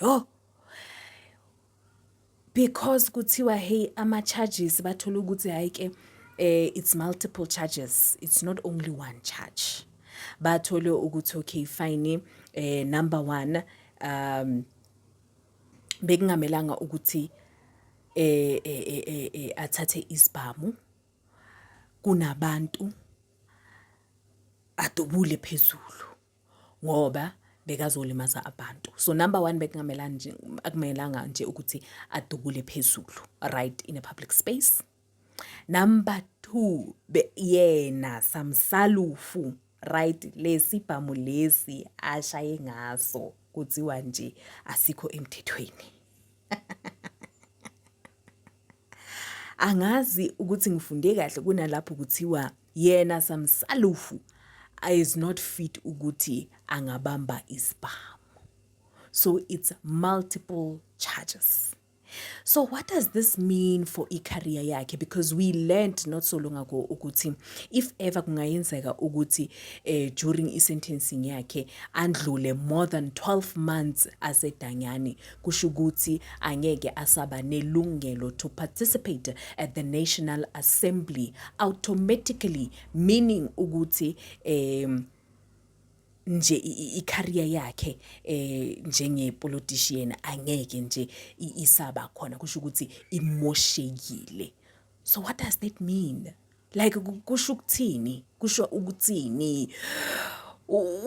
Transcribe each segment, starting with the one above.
Yho. Because kuthiwa hey ama charges bathola ukuthi hayi ke eh it's multiple charges. It's not only one charge. Bathole ukuthi okay fine eh number 1 um bekungamelanga ukuthi eh eh eh, eh, eh athathe isibhamu kunabantu adubule phezulu ngoba bekazolimaza abantu so number one bekungamelanga nje ukuthi adubule phezulu right in a public space number two yena samsalufu right lesi bhamu lesi ashaye ngaso kuthiwa nje asikho emthethweni angazi ukuthi ngifunde kahle kunalapho kuthiwa yena samsalufu is not fit ukuthi angabamba isibhamu so it's multiple charges so what does this mean for i-career yakhe because we learned not so long ago ukuthi if ever kungayenzeka ukuthi eh, during i-sentencing yakhe andlule more than 12 months asedanyane kusho ukuthi angeke asaba nelungelo to participate at the National Assembly automatically meaning ukuthi um nje i-career yakhe eh njenge politician angeke nje isaba khona kusho ukuthi imoshekile so what does that mean like kusho ukuthini kusho ukuthini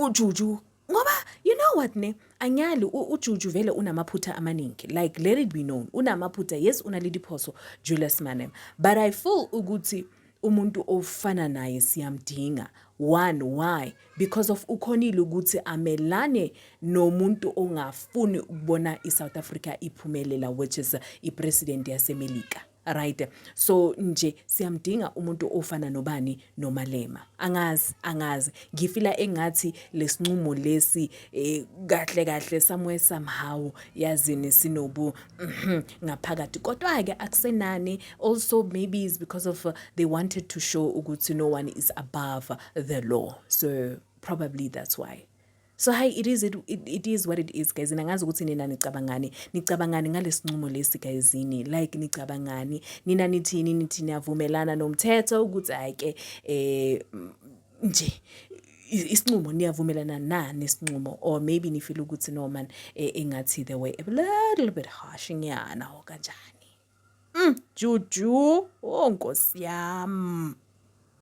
ujuju ngoba you know what ne anyali ujuju vele unamaphutha amaningi like let it be known unamaphutha yes unale diphoso julius manem but i feel ukuthi umuntu ofana naye siyamdinga one why because of ukhonile ukuthi amelane nomuntu ongafuni ukubona i-south africa iphumelela which is ipresident yasemelika right so nje siyamdinga umuntu ofana nobani nomalema angazi angazi ngifila engathi lesinqumo lesi eh, kahle kahle somewhere somehow yazini sinobu mhm, ngaphakathi kodwa ke akusenani also maybe is because of uh, they wanted to show ukuthi no one is above the law so probably that's why So hi it is it, it, it is what it is guys. Nangazi ukuthi nina nicabangani. Nicabangani ngalesinqumo lesi guys ni like nicabangani. Nina nithini nithi niyavumelana nomthetho ukuthi ayike eh nje isinqumo niyavumelana na nesinqumo or maybe nifile ukuthi no man eh, engathi the way a little bit harsh nyana or kanjani. Mm, juju, oh nkosi yami.